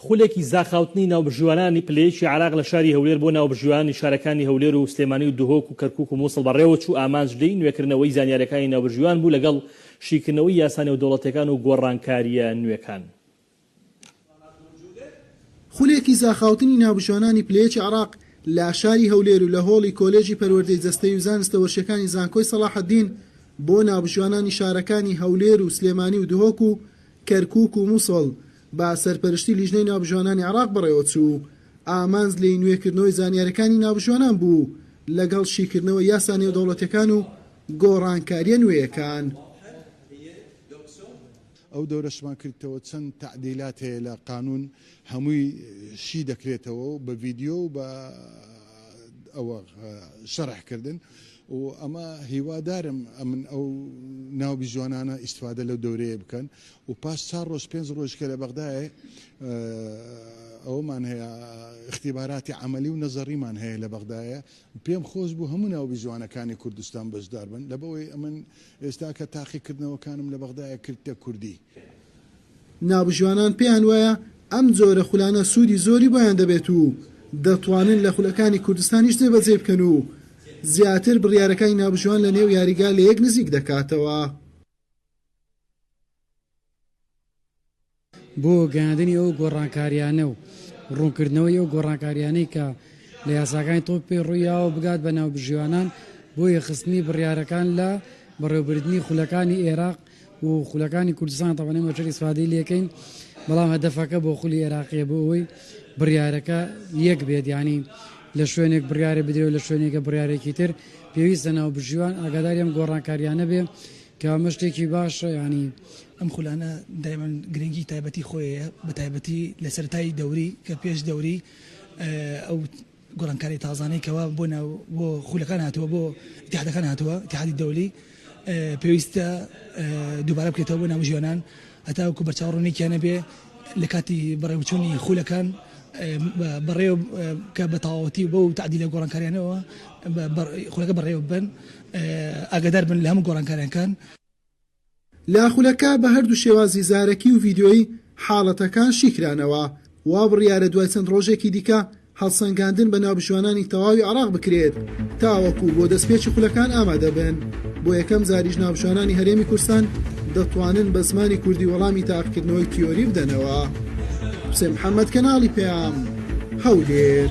خولێکی زاخاوتنی ناوبژیوانانی پلەیەکی عێراق لە شاری هەولێر بۆ ناوبژیوانانی شارەکانی هەولێر و سلێمانی و دهۆک و کەرکوک و موسڵ بەڕێوەچوو ئامانج لێی نوێکردنەوەی زانیاریەکانی ناوبژیوان بوو لەگەڵ شیکردنەوەی یاسا نێودەوڵەتیەکان و گۆڕانکاریە نوێکان. خولێکی زاخاوتنی ناوبژیوانانی پلەیەکی عێراق لە شاری هەولێر و لە هۆڵی کۆلێجی پەروەردەی جەستەیی و زانستە وەرشیەکانی زانکۆی سەڵاحەدین بۆ ناوبژیوانانی شارەکانی هەولێر و سلێمانی و دهۆک و کەرکوک و موسڵ بە سەرپەرشتی لیژنەی ناوبژوانانی عێراق بەڕێوەچوو، ئامانج لێی نوێکردنەوەی زانیارییەکانی ناوبژوانان بوو لەگەڵ شیکردنەوەی یاسا نێودەوڵەتییەکان و گۆڕانکارییە نوێیەکان. ئەو دەورەشمان کردتەوە چەند تەعدیلات هەیە لە قانون هەمووی شی دەکرێتەوە و بە ڤیدیۆ و بە ئەوە شەرح کردن و ئەمە هیوادارم ئەمن ئەو ناوبژوانانە ئیسفادە لەو دەورەیە بکەن و پاش چار ڕۆژ پێنج ڕۆژ کە لە بەغدایە ئەوەمان هەیە اختیباراتی عملی و نەزەڕیمان هەیە لە بەغدایە پێم خۆش بوو هەموو ناوبی جوانەکانی کوردستان بەشدار بن لە بەوەی ئەمن ئێستا کە تاقیکردنەوەکانم لە بەغدایە کردتە کوردی. ناوبژوانان پێیان وایە ئەم جۆرە خولانە سوودی زۆری بۆیان دەبێت و دەتوانن لە خولەکانی کوردستانیش جێبەجێی بکەن و زیاتر بڕیارەکانی ناوبژوان لە نێو یاریگا لە یەک نزیک دەکاتەوە. بۆ گەیاندنی ئەو گۆڕانکارییانە و ڕوونکردنەوەی ئەو گۆڕانکارییانەی کە لە یاساکانی تۆپ پێی ڕوویاوە بگات بە ناوبژیوانان بۆ یەخستنی بڕیارەکان لە بەڕێوەبردنی خولەکانی ئێراق و خولەکانی کوردستان تاوان ئێمە چەر ئیسفادەی لێکەین بەڵام هەدەفەکە بۆ خولی ئێراقیە بۆ ئەوەی بڕیارەکە یەک بێت یانی لە شوێنێک بڕیارە بدرێت و لە شوێنێکە بڕیارێکی تر پێویستە ناوبژیوان ئاگاداری ئەم گۆڕانکارییانە بێ کە ئەمە شتێکی باشە یانی. ئەم خولانە دایما گرنگی تایبەتی خۆی هەیە بەتایبەتی لە سەرەتای دەوری کە پێش دەوری ئەو گۆڕانکاری تازانەی کەوا بۆ ناو بۆ خولەکان هاتووە بۆ ئیتیحادەکان هاتووە ئیتیحادی دەولی پێویستە دووبارە بکرێتەوە بۆ ناوژیوانان هەتاوەکو بەرچاو ڕوونێکیان نەبێ لە کاتی بەڕێوچوونی خولەکان بەڕێ کە بە تەواوەتی بە و تعدی لە گۆڕانکاریانەوە خولەکە بەڕێوە بن ئاگدار بن لە هەموو گۆڕانکاریانکان لە خولەکە بە هەردوو شێوازی زارەکی و ڤیددیۆی حاڵەتەکان شیکرانەوە وا بڕیارە دوای چەند ڕۆژێکی دیکە هەڵسەنگاندن بە ناوبژیوانانی تەواوی عێراق بکرێت تاوەکو بۆ دەستپێکی خولەکان ئامادە بن، بۆ یەکەم جاریش ناوبژیوانانی هەرێمی کورستان دەتوانن بە زمانی کوردی وەڵامی تاقیکردنەوەی تیۆری بدەنەوە. حوسێن محەمەد، کەناڵی پەیام، هەولێر.